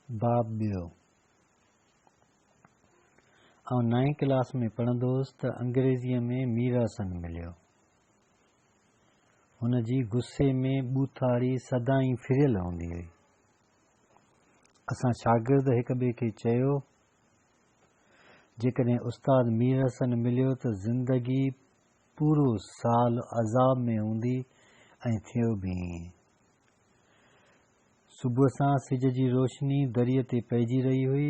باب ٻيو، آئون نائين ڪلاس ۾ پڙهندو هوس ته انگريزيء ۾ ميررسن مليو. هن جي غصي ۾ ٻوٿاڙي سدائين ڦريل هوندي هئي. اسان شاگرد هڪ ٻئي کي چيو، جيڪڏهن استاد ميررسن مليو ته زندگي پورو سال عذاب ۾ هوندي ۽ ٿيو به ائين. صبح سان سج جي روشني دريء تي پئجي رهي هئي.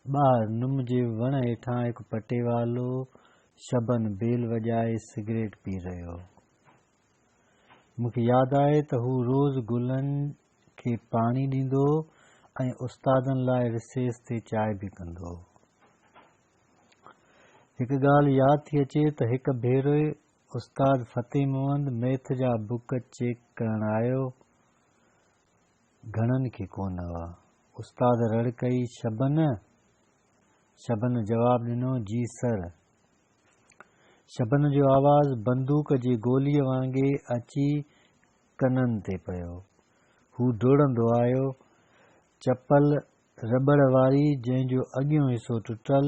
ٻاهر نم جي وڻ هيٺان هڪ پٽيوالو شبن بيل وڄائي سگريٽ پي رهيو هو. مون کي ياد آهي ته هو روز گلن کي پاڻي ڏيندو هو ۽ استادن لاء رسيس تي چانهه به ڪندو هو. هڪ ڳالهه ياد ٿي اچي ته هڪ ڀيري استاد فتح محمد ميٿ جا بوڪ چيڪ ڪرڻ آيو گهڻن کي ڪونه هئا. استاد رڙ ڪئي شبن! شبن جواب ڏنو جي سر. شبن جو آواز بندوق جي گوليء وانگي اچي ڪنن تي پيو. هو ڊوڙندو آيو. چپل رٻڙ واري جنهن جو اڳيون حصو ٽٽل.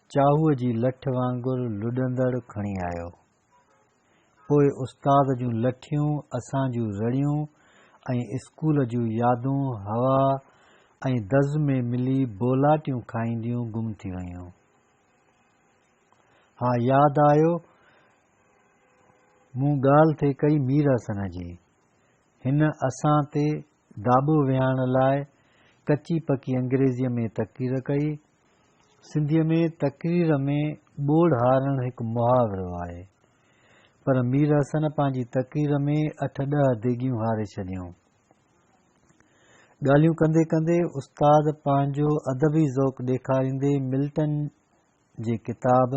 چاهوء جي لٺ وانگر لڏندڙ کڻي آيو. پوء استاد جون لٺيون، اسان جون رڙيون ۽ اسڪول جون يادون هوا ۽ دز ۾ ملي بولاٽيون کائينديون گم ٿي ويون. ها ياد آيو مون ڳالهه ٿي ڪئي مير حسن جي. هن اسان تي داٻو ويهائڻ لاء ڪچي پڪي انگريزيء ۾ تقرير ڪئي. سنڌيء ۾ تقرير ۾ ٻوڙ هارڻ هڪ محاورو آهي، پر مير حسن پنهنجي تقرير ۾ اٺ ڏهه ديڳيون هاري ڇڏيون. ڳالهيون ڪندي ڪندي استاد پنهنجو ادبي ذوق ڏيکاريندي ملٽن جي ڪتاب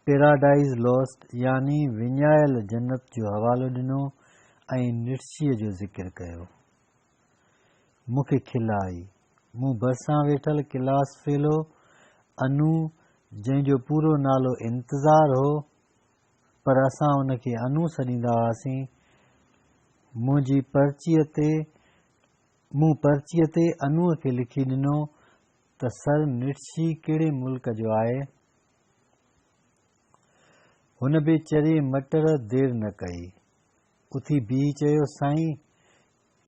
پيراڊائيز لوسٽ يعني وڃايل جنت جو حوالو ڏنو ۽ نٽشي جو ذڪر ڪيو. مون کي کل آئي. مون ڀرسان ويٺل ڪلاس فيلو انو جنهن جو پورو نالو انتظار هو پر اسان ان کي انو سڏيندا هئاسين منهنجي پرچيء تي مون پرچيء تي انوء کي لکي ڏنو ته سر نٽشي ڪهڙي ملڪ جو آهي؟ هن ويچري مٽر دير نه ڪئي. اٿي بيهي چيو، سائين!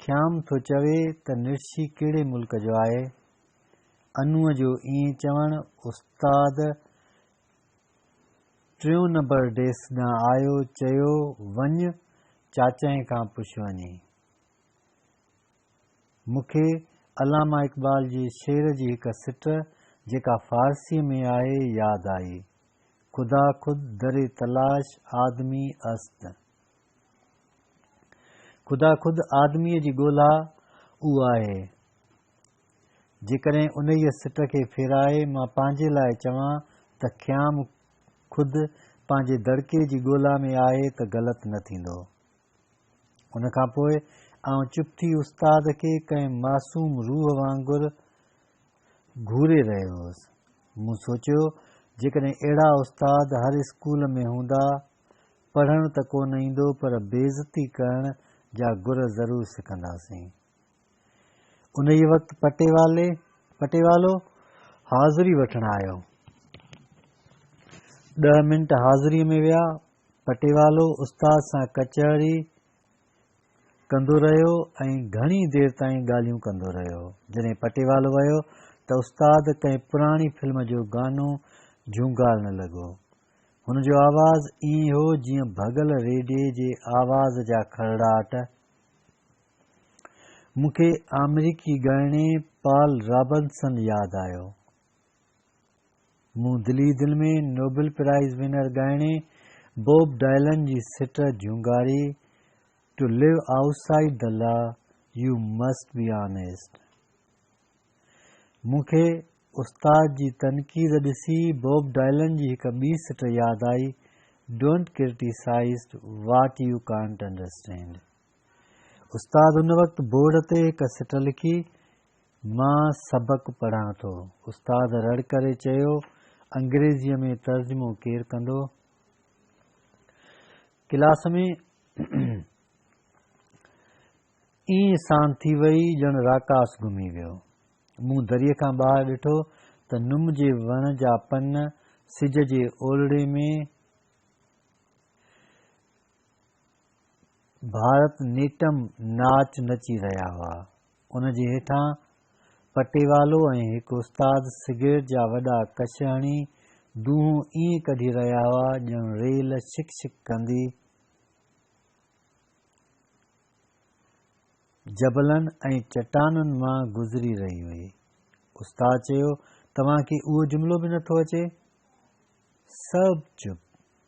خيام ٿو چوي ته نٽشي ڪهڙي ملڪ جو آهي؟ انوء جو ائين چوڻ استاد ٽيون نمبر ڊيسڪ ڏانهن آيو، چيو، وڃ چاچائي کان پڇ وڃي. مون کي علامه اقبال جي شعر جي هڪ سٽ جيڪا فارسيء ۾ آهي ياد آئي، خدا خود در تلاش آدمي است. خدا خود آدميء جي ڳولا اهو آهي. جيڪڏهن انهيء سٽ کي ڦيرائي مان پنهنجي لاء چوان ته خيام خود پنهنجي دڙڪي جي ڳولا ۾ آهي ته غلط نه ٿيندو. ان کان پوء آئون چپ ٿي استاد کي ڪنهن معصوم روح وانگر گهوري رهيو هوس. مون سوچيو جيڪڏهن اهڙا استاد هر اسڪول ۾ هوندا، پڙهڻ ته ڪو نه ايندو پر بيعزتي ڪرڻ جا گر ضرور سکنداسين. انهيء وقت پٽيوالي، پٽيوالو، حاضري وٺڻ آيو. ڏهه منٽ حاضريء ۾ ويا. پٽيوالو استاد سان ڪچهري ڪندو رهيو ۽ گهڻي دير تائين ڳالهيون ڪندو رهيو. جڏهن پٽيوالو ويو ته استاد ڪنهن پراڻي فلم جو گانو جهونگارڻ لڳو. هن جو آواز ائين هو جيئن ڀڳل ريڊئي جي آواز جا کرڙاٽ. مون کي آمريڪي ڳائڻي پال رابنسن ياد آيو. مون دل ئي دل ۾ نوبل پرائز ونر ڳائڻي بوب ڊائلن جي سٽ جهونگاري to live outside the law you must be honest. مون کي استاد جي تنقيد ڏسي بوب ڊائلن جي هڪ ٻي سٽ ياد آئي don't criticise what you can't understand. استاد ان وقت بورڊ تي هڪ سٽ لکي مان سبق پڙهان ٿو. استاد رڙ ڪري چيو، انگريزيء ۾ ترجمو ڪير ڪندو؟ ڪلاس ۾ ائين سان ٿي وئي ڄڻ راڪاس گهمي ويو. مون دريء کان ٻاهر ڏٺو ته نم جي وڻ جا پن سج جي اولڙي ۾ ڀارت نيٽم ناچ نچي رهيا هئا. ان جي هيٺان پٽيوالو ۽ هڪ استاد سگريٽ جا وڏا ڪش هڻي دونهون ائين ڪڍي رهيا هئا ڄڻ ريل شڪ شڪ ڪندي جبلن ۽ چٽانن مان گذري رهي هئي. استاد چيو، توهان کي اهو جملو به نٿو اچي؟ سڀ چپ.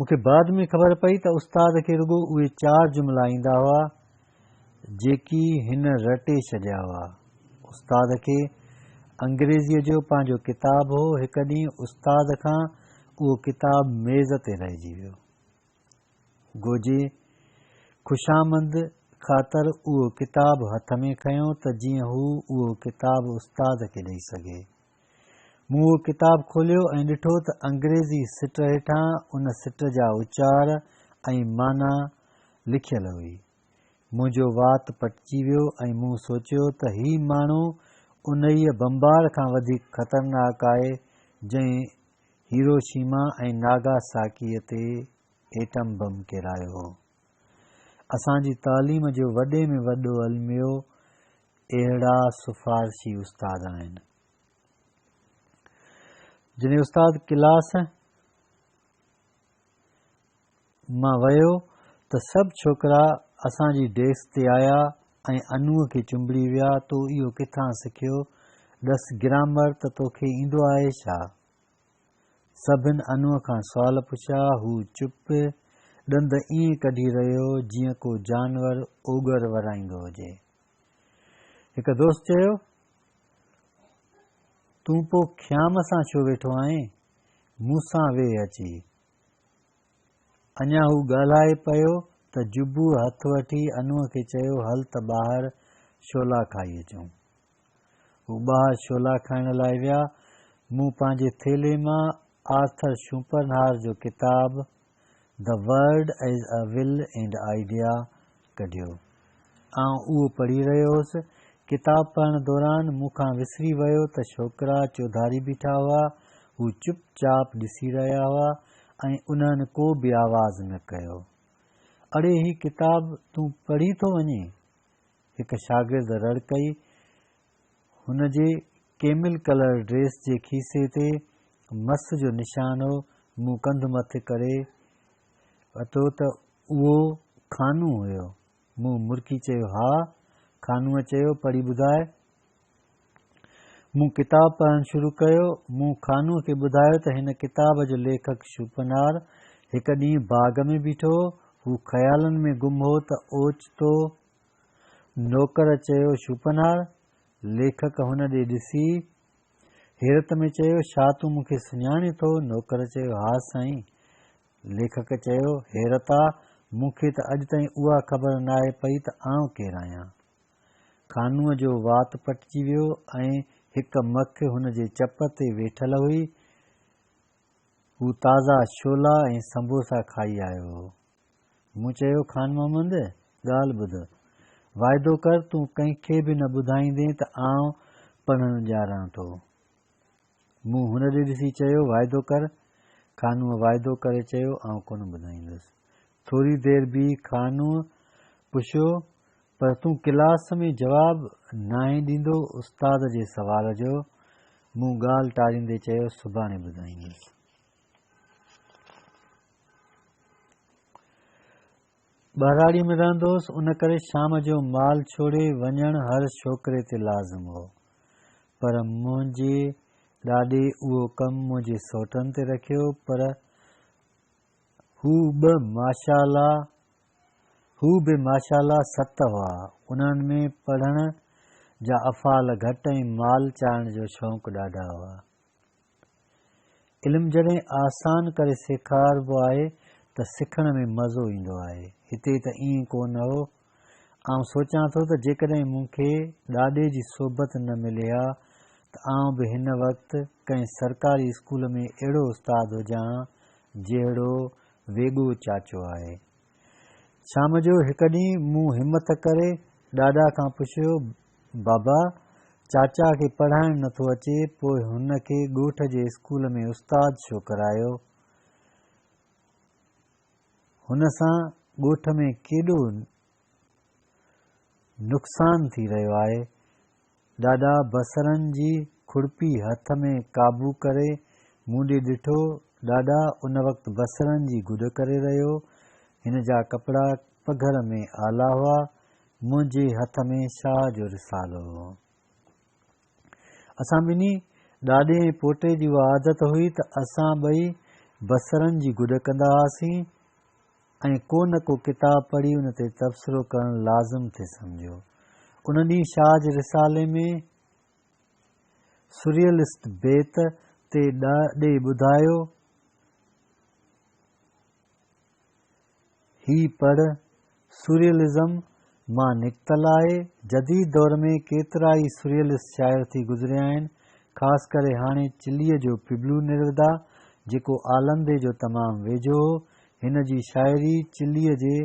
مون کي بعد ۾ خبر پئي ته استاد کي رڳو اهي چار جملا ايندا هئا جيڪي هن رٽي ڇڏيا هئا. استاد کي انگريزيء جو پنهنجو ڪتاب هو، هڪ ڏينهن استاد کان اهو ڪتاب ميز تي رهجي ويو. گوجي خوشامند خاطر اهو ڪتاب هٿ ۾ کنيو ته جيئن هو اهو ڪتاب استاد کي ڏئي سگهي. مون اهو ڪتاب کوليو ۽ ڏٺو ته انگريزي سٽ هيٺان ان سٽ جا اچار ۽ معنيٰ لکيل هئي. منهنجو وات پٽجي ويو ۽ مون سوچيو ته هي ماڻهو انهيء بمبار کان وڌيڪ خطرناڪ آهي جنهن هيروشيما ۽ ناگا ساڪيء تي ايٽم بم ڪيرايو هو. اسان جي تعليم جو وڏي ۾ وڏو الميو اهڙا سفارشي استاد آهن. جڏهن استاد ڪلاس مان ويو ته سڀ ڇوڪرا اسان جي ڊيسڪ تي آيا ۽ انوء کي چنبڙي ويا تو اهو ڪٿان سکيو؟ ڏس گرامر ته توکي ايندو آهي ڇا؟ سڀن انوء کان سوال پڇيا هو چپ ڏند ائين ڪڍي رهيو جيئن ڪو جانور اوڳر ورائيندو هجي. هڪ دوست چيو، تون پوء خيام سان ڇو ويٺو آهين؟ مون سان ويهه اچي. اڃا هو ڳالهائي پيو ته جبوء هٿ وٺي انوء کي چيو، هل ته ٻاهر شولا کائي اچون. هو ٻاهر شولا کائڻ لاء ويا. مون پنهنجي ٿيلهي مان آرٿر شوپرنهار جو ڪتاب The Word as a Will and Idea ڪڍيو. آئون اهو پڙهي رهيو هوس. ڪتاب پڙهڻ دوران مون کان وسري ويو ته ڇوڪرا چوڌاري بيٺا هئا. هو چپ چاپ ڏسي رهيا هئا ۽ انهن ڪو به آواز نه ڪيو. اڙي هي ڪتاب تون پڙهي ٿو وڃين؟ هڪ شاگرد رڙ ڪئي، هن جي ڪيمل ڪلر ڊريس جي کيسي تي مس جو نشان هو، مون ڪنڌ مٿي ڪري وتو ته اهو خانو هيو. مون مرڪي چيو، ها. خانوء چيو، پڙهي ٻڌاء. مون ڪتاب پڙهڻ شروع ڪيو. مون خانوء کي ٻڌايو ته هن ڪتاب جو ليکڪ شوپنهار هڪ ڏينهن باغ ۾ بيٺو هو. هو خيالن ۾ گم هو ته اوچتو نوڪر چيو شوپنهار! ليکڪ هن ڏي ڏسي، حيرت ۾ چيو، ڇا تون مون کي سڃاڻين ٿو؟ نوڪر چيو، ها سائين! ليکڪ چيو، حيرت آ، مون کي ته اڄ تائين اها خبر ناهي پئي ته آئون ڪير آهيان؟ خانوء جو وات پٽجي ويو ۽ هڪ مک هن جي چپ تي ويٺل هئي. هو تازا شولا ۽ سنبوسا کائي آيو هو. مون چيو، خان محمد، ڳالهه ٻڌ. واعدو ڪر تون ڪنهن کي به نه ٻڌائيندين ته آئون پڙهڻ ڄاران ٿو. مون هن ڏي ڏسي چيو، واعدو ڪر. خانوء واعدو ڪري چيو، آئون ڪونه ٻڌائيندس. ٿوري دير بيهي خانوء پڇيو، پر تون ڪلاس ۾ جواب ناهين ڏيندو استاد جي سوال جو؟ مون ڳالهه ٽاريندي چيو، سڀاڻي ٻڌائيندس. ٻهراڙيء ۾ رهندو هوس، ان ڪري شام جو مال ڇوڙي وڃڻ هر ڇوڪري تي لازم هو. پر منهنجي ڏاڏي اهو ڪم منهنجي سوٽن تي رکيو، پر هو به ماشاء الله ست هئا. انهن ۾ پڙهڻ جا افعال گهٽ ۽ مال چاهڻ جو شوق ڏاڍا هئا. علم جڏهن آسان ڪري سيکاربو آهي ته سکڻ ۾ مزو ايندو آهي. هتي ته ائين ڪو نه هو. آئون سوچان ٿو ته جيڪڏهن مون کي ڏاڏي جي صحبت نه ملي ها ته آئون به هن وقت ڪنهن سرڪاري اسڪول ۾ اهڙو استاد هجان ها جهڙو ويڳو چاچو آهي. شام جو هڪ ڏينهن مون همٿ ڪري ڏاڏا کان پڇيو بابا، چاچا کي پڙهائڻ نه ٿو اچي، پوء هن کي ڳوٺ جي اسڪول ۾ استاد ڇو ڪرايو؟ هن سان ڳوٺ ۾ ڪيڏو نقصان ٿي رهيو آهي. ڏاڏا بصرن جي کڙپي هٿ ۾ قابو ڪري مون ڏي ڏٺو. ڏاڏا ان وقت بصرن جي گڏ ڪري رهيو هو. هن جا ڪپڙا پگهر ۾ آلا هئا. منهنجي هٿ ۾ شاهه جو رسالو هو. اسان ٻنهي ڏاڏي ۽ پوٽي جي اها عادت هئي ته اسان ٻئي بصرن جي گڏ ڪندا هئاسين ۽ ڪو نه ڪو ڪتاب پڙهي ان تي تبصرو ڪرڻ لازم ٿي سمجهيو. ان ڏينهن شاهه جي رسالي ۾ سريئلسٽ بيت تي ڏاڏي ٻڌايو هي پڙهه، سوريئلزم مان نڪتل آهي. جديد دور ۾ ڪيترائي سوريئلسٽ شاعر ٿي گذريا آهن، خاص ڪري هاڻي چليء جو پبلو نيرودا، جيڪو آلندي جو تمام ويجهو هو. هن جي شاعريء چليء جي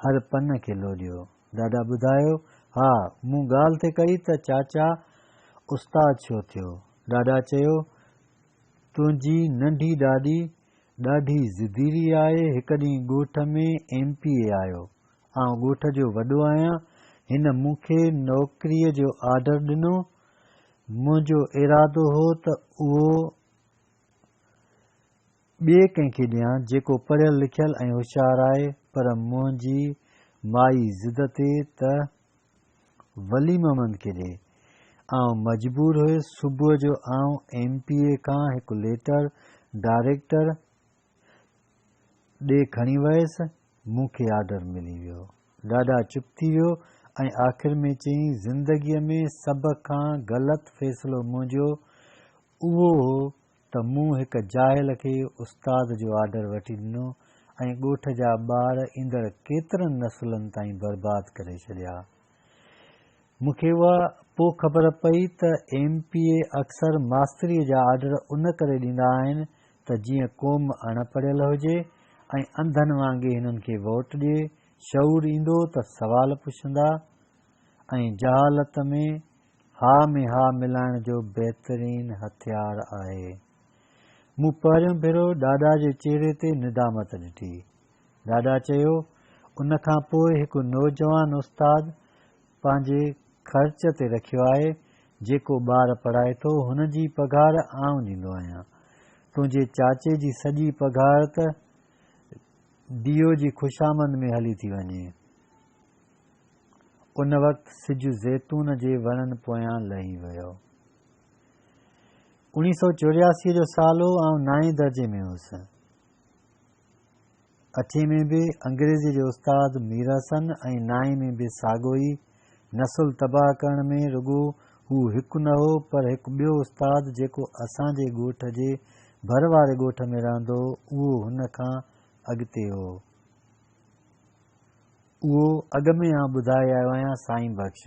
هر پن کي لوڏيو. ڏاڏا ٻڌايو، ها، مون ڳالهه ٿي ڪئي ته چاچا استاد ڇو ٿيو؟ ڏاڏا چيو، تنهنجي ننڍي ڏاڏي ڏاڍي ضديري آهي، هڪ ڏينهن ڳوٺ ۾ ايم پي اي آيو، آئون ڳوٺ جو وڏو آهيان، هن مون کي نوڪريء جو آرڊر ڏنو، منهنجو ارادو هو ته اهو ٻئي ڪنهن کي ڏيان جيڪو پڙهيل لکيل ۽ هوشيار آهي، پر منهنجي مائي ضد تي ته ولي محمد کي ڏي. آئون مجبور هيس صبح جو آئون ايم پي اي کان هڪ ليٽر ڊائريڪٽر ڏي کڻي ويس. مون کي آرڊر ملي ويو. ڏاڏا چپ ٿي ويو ۽ آخر ۾ چيائين زندگيء ۾ سڀ کان غلط فيصلو منهنجو اهو هو ته مون هڪ جاهل کي استاد جو آرڊر وٺي ڏنو ۽ ڳوٺ جا ٻار ايندڙ ڪيترن نسلن تائين برباد ڪري ڇڏيا. مون کي اها پوء خبر پئي ته ايم پي اي اڪثر ماستريء جا آرڊر ان ڪري ڏيندا آهن ته جيئن قوم اڻ پڙهيل هجي ۽ انڌن وانگي هنن کي ووٽ ڏئي، شعور ايندو ته سوال پڇندا ۽ جهالت ۾ ها ۾ ها ملائڻ جو بهترين هٿيار آهي. مون پهريون ڀيرو ڏاڏا جي چهري تي ندامت ڏٺي. ڏاڏا چيو، ان کان پوء هڪ نوجوان استاد پنهنجي خرچ تي رکيو آهي، جيڪو ٻار پڙهائي ٿو، هن جي پگهار آئون ڏيندو آهيان. تنهنجي چاچي جي سڄي پگهار ته ڊي او جي خوشامند ۾ هلي ٿي وڃي. ان وقت سج زيتون جي وڻن پويان لهي ويو. اوڻيهه سؤ چورياسي جو سال هو، آئون نائين درجي ۾ هوس. اٺين ۾ به انگريزيء جو استاد مير حسن ۽ نائين ۾ به ساڳو ئي. نسل تباهه ڪرڻ ۾ رڳو هو هڪ نه هو، پر هڪ ٻيو استاد جيڪو اسان جي ڳوٺ جي ڀر واري ڳوٺ ۾ رهندو هو، اهو هن کان اڳتي هو. اهو اڳ ۾ آئون ٻڌائي آيو آهيان سائين بخش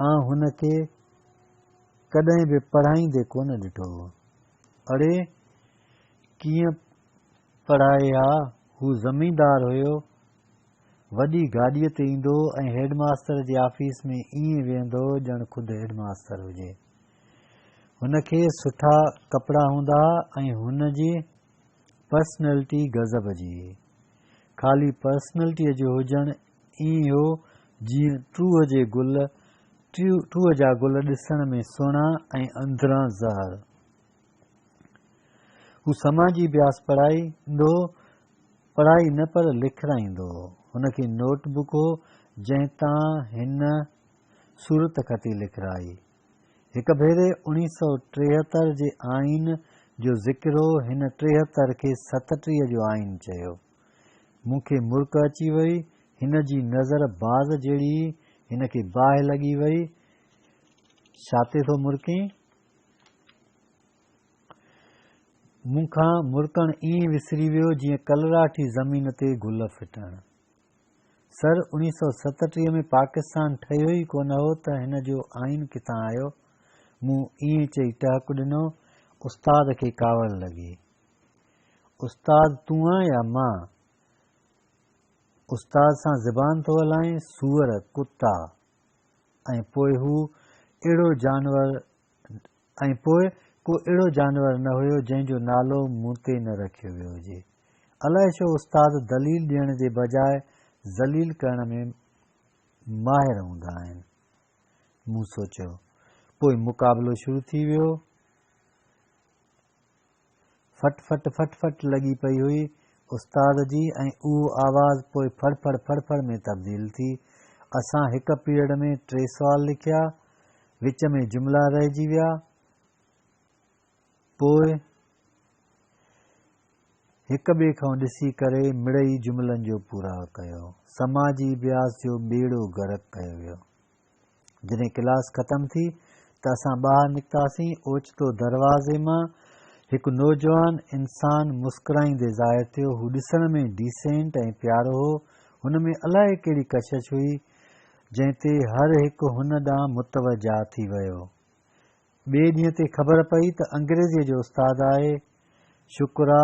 آئون هن کي ڪڏهن به پڙهائيندي ڪونه ڏٺو هو. اڙي ڪيئن پڙهائي ها هو زميندار هيو وڏي گاڏيء تي ايندو هو ۽ هيڊ ماستر جي آفيس ۾ ائين ويهندو هو ڄڻ خود هيڊ ماستر هجي. هن کي سٺا ڪپڙا هوندا ها ۽ هن جي پرسنلٽي غضب جي هئي. خالي پرسنلٽيء جو هجڻ ائين هو جيئن ٽوهه جي گل، ٽوهه جا گل ڏسڻ ۾ سهڻا ۽ اندران زهر. هو سماجي بياس پڙهائيندو هو، پڙهائي نه پر لکرائيندو هو. هن کي نوٽ بڪ هو، جنهن تان هن صورتخطي لکرائي. هڪ ڀيري اڻيهه سؤ ٽيهتر جي آئين جو ذڪر هو، هن ٽيهتر کي ستٽيهه جو آئين چيو. مون کي مرڪ اچي وئي، هن جي نظر باز جهڙي هئي، هن کي باهه لڳي وئي، ڇا تي ٿو مرڪين؟ مون کان مرڪڻ ائين وسري ويو جيئن ڪلراٺي زمين تي گل ڦٽڻ. سر اوڻيهه سؤ ستٽيهه ۾ پاڪستان ٺهيو ئي ڪونه هو ته هن جو آئين ڪٿان آيو؟ مون ائين چئي ٽهڪ ڏنو. استاد کي ڪاوڙ لڳي. استاد تون آن يا مان؟ استاد سان زبان ٿو هلائين؟ سوئر، ڪتا! ۽ پوء هو اهڙو جانور ۽ پوء ڪو اهڙو جانور نه هيو جنهن جو نالو مون تي نه رکيو ويو هجي. الائي ڇو استاد دليل ڏيڻ جي بجاء ذليل ڪرڻ ۾ ماهر هوندا آهن. مون سوچيو. پوء مقابلو شروع ٿي ويو. ڦٽ ڦٽ ڦٽ ڦٽ لڳي پئي هئي استاد جي ۽ اهو آواز پوء ڦڙ ڦڙ ڦڙ ڦڙ ۾ تبديل ٿي. اسان هڪ پيريڊ ۾ ٽي سوال لکيا. وچ ۾ جملا رهجي ويا. پوء هڪ ٻئي کان ڏسي ڪري مڙئي جملن جو پورا ڪيو. سماجي بياس جو ٻيڙو غرق ڪيو ويو. جڏهن ڪلاس ختم ٿي ته اسان ٻاهر نڪتاسين، اوچتو دروازي مان هڪ نوجوان انسان مسڪرائيندي ظاهر ٿيو، هو ڏسڻ ۾ ڊيسينٽ ۽ پيارو هو، هن ۾ الائي ڪهڙي ڪشش هئي، جنهن تي هر هڪ هن ڏانهن متوجهه ٿي ويو. ٻئي ڏينهن تي خبر پئي ته انگريزيء جو استاد آهي. شڪر آ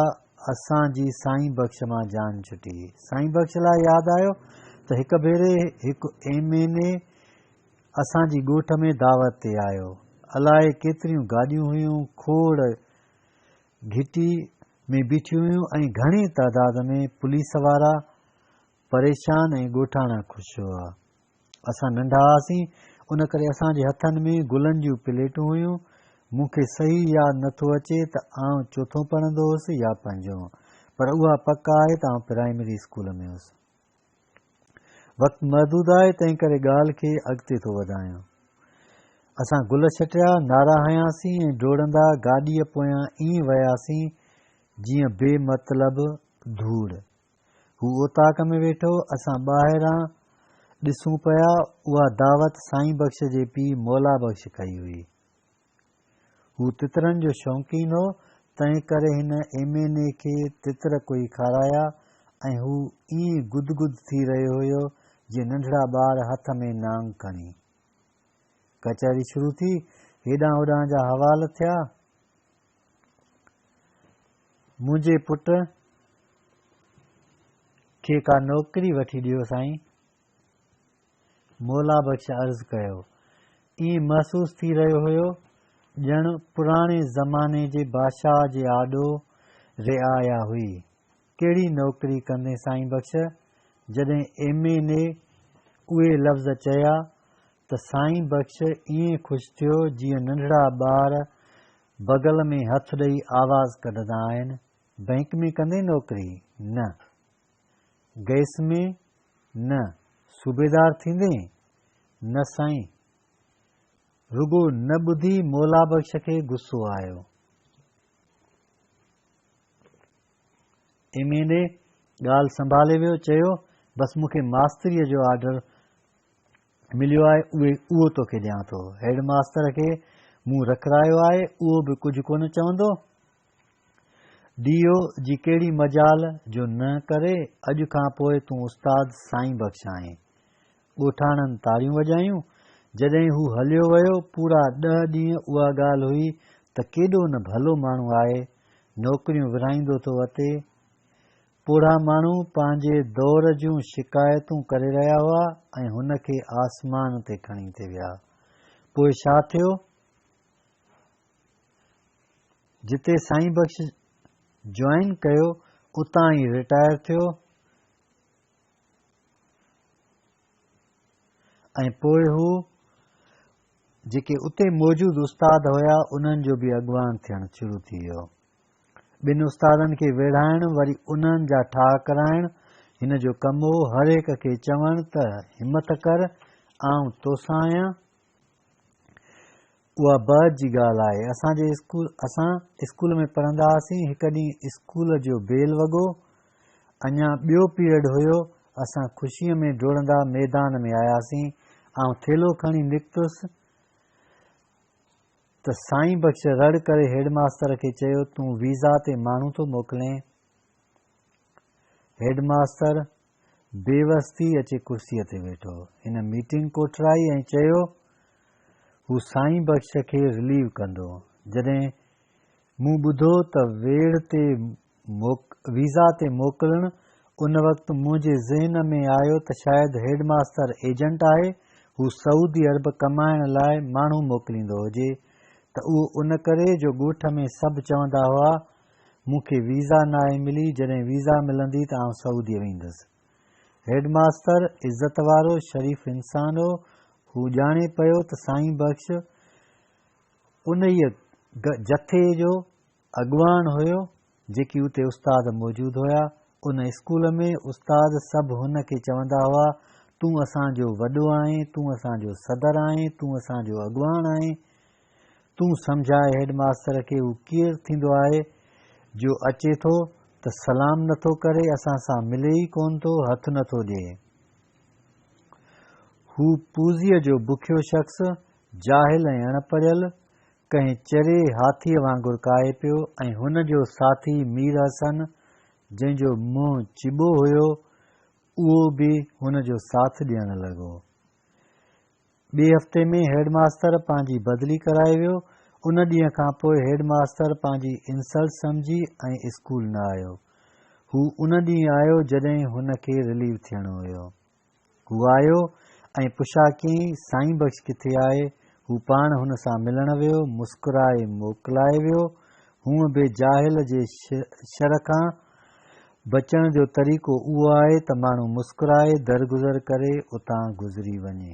اسان جي سائين بخش مان جان ڇٽي. سائين بخش لاء ياد آيو ته هڪ ڀيري هڪ ايم اين اي اسان جي ڳوٺ ۾ دعوت تي آيو. الائي ڪيتريون گاڏيون هيون، کوڙ گهٽي ۾ بيٺيون هيون ۽ گهڻي تعداد ۾ پوليس وارا، پريشان ۽ ڳوٺاڻا خوش هئا. اسان ننڍا هئاسين، ان ڪري اسان جي هٿن ۾ گلن جون پليٽون هيون. مون کي صحيح ياد نه ٿو اچي ته آئون چوٿون پڙهندو هوس يا پنجون، پر اها پڪ آهي ته آئون پرائمري اسڪول ۾ هوس. وقت محدود آهي، تنهن ڪري ڳالهه کي اڳتي ٿو وڌايان. اسان گل ڇٽيا، نعرا هنياسين ۽ ڊوڙندا گاڏيء پويان ائين وياسين، جيئن بي مطلب ڌوڙ. هو اوطاق ۾ ويٺو، اسان ٻاهران ڏسون پيا، اها دعوت سائين بخش جي پيء مولا بخش ڪئي هئي. هو تترن جو شوقين هو، تنهنڪري هن ايم اين اي کي تتر ڪوئي کارايا ۽ هو ائين گد گد ٿي رهيو هيو جيئن ننڍڙا ٻار هٿ ۾ نانگ کڻي. ڪچهري شروع ٿي، هيڏانهن هوڏانهن جا حوال ٿيا. منهنجي پٽ کي ڪا نوڪري وٺي ڏيو سائين. مولا بخش عرض ڪيو. ائين محسوس ٿي رهيو هيو ڄڻ پراڻي زماني جي بادشاهه جي آڏو رعايا هئي. ڪهڙي نوڪري ڪندين سائين بخش؟ جڏهن ايم اين اي اهي لفظ چيا ته سائين بخش ائين خوش ٿيو جيئن ننڍڙا ٻار بغل ۾ هٿ ڏئي آواز ڪڍندا آهن، بئنڪ ۾ ڪندين نوڪري؟ نه. گئس ۾؟ نه. صوبيدار ٿيندين؟ نه سائين. رڳو نه ٻڌي مولا بخش کي غصو آيو. ايم اين اي ڳالهه سنڀالي ويو چيو بس مون کي ماستريء جو آرڊر مليو آهي اهو توکي ڏيان ٿو هيڊ ماستر کي مون رکرايو آهي اهو به ڪجهه ڪونه چوندو ڊي او جي ڪهڙي مجال جو نه ڪري اڄ کان پوء تون استاد سائين بخش آهين ڳوٺاڻن تاڙيون وڄايون. جڏهن هو هليو ويو، پورا ڏهه ڏينهن اها ڳالهه هئي ته ڪيڏو نه ڀلو ماڻهو آهي، نوڪريون ورهائيندو ٿو اٿي. پوڙها ماڻهو پنهنجي دور جون شڪايتون ڪري رهيا هئا ۽ هن کي آسمان تي کڻي ٿي ويا. پوء ڇا ٿيو؟ جتي سائين بخش جوائن ڪيو، اتان ئي رٽائر ٿيو. ۽ پوء هو جيڪي اتي موجود استاد هيا انهن جو به اڳواڻ ٿيڻ شروع ٿي ويو ٻن استادن کي ويڙهائڻ وري انهن جا ٺاهه ڪرائڻ هن جو ڪم هو هر هڪ کي چوڻ ته همٿ ڪر آئون توسان آهيان اها بعد جي ڳالهه آهي. اسان جي اسڪول اسان اسڪول ۾ پڙهندا هئاسين، هڪ ڏينهن اسڪول جو بيل وڳو، اڃا ٻيو پيريڊ هيو، اسان خوشيء ۾ ڊوڙندا ميدان ۾ آياسين، آئون ٿيلهو کڻي نڪتس ته سائين بخش رڙ ڪري هيڊ ماستر کي چيو تون ويزا تي ماڻهو ٿو موڪلين؟ Head master. بي وس ٿي اچي ڪرسيء تي ويٺو. هن ميٽنگ ڪوٺرائي ۽ چيو، هو سائين بخش کي رليو ڪندو. جڏهن مون ٻڌو ته ويڙهه تي ويزا تي موڪلڻ، ان وقت منهنجي ذهن ۾ آيو ته شايد هيڊ ماستر ايجنٽ آهي، هو سعودي عرب ڪمائڻ لاء ماڻهو موڪليندو هجي ته اهو ان ڪري جو ڳوٺ ۾ سڀ چوندا هئا مون کي ويزا ناهي ملي، جڏهن ويزا ملندي ته آئون سعوديء ويندس. هيڊ ماستر عزت وارو، شريف انسان هو. هو ڄاڻي پيو ته سائين بخش انهيء جٿي جو اڳواڻ هيو، جيڪي اتي استاد موجود هيا. ان اسڪول ۾ استاد سڀ هن کي چوندا هئا، تون اسان جو وڏو آهين، تون اسان جو صدر آهين، تون اسان جو اڳواڻ آهين. تون سمجهاء هيڊ ماستر کي هو ڪير ٿيندو آهي جو اچي ٿو ته سلام نه ٿو ڪري اسان سان ملي ئي ڪونه ٿو هٿ نه ٿو ڏئي. هو پوزيء جو بکيو شخص جاهل ۽ اڻ پڙهيل ڪنهن چري هاٿيء وانگر ڪاهي پيو ۽ هن جو ساٿي مير حسن جنهن جو منهن چٻو هيو اهو به هن جو ساٿ ڏيڻ لڳو. ٻئي هفتي ۾ هيڊ ماستر پنهنجي بدلي ڪرائي ويو. ان ڏينهن کان پوء هيڊ ماستر پنهنجي انسلٽ سمجهي ۽ اسڪول نه آيو. هو ان ڏينهن آيو جڏهن هن کي رليو ٿيڻو هيو. هو آيو ۽ پڇا ڪيائين سائين بخش ڪٿي آهي؟ هو پاڻ هن سان ملڻ ويو، مسڪرائي موڪلائي ويو. هونء به جاهل جي شر کان بچڻ جو طريقو اهو آهي ته ماڻهو مسڪرائي درگذر ڪري اتان گذري وڃي.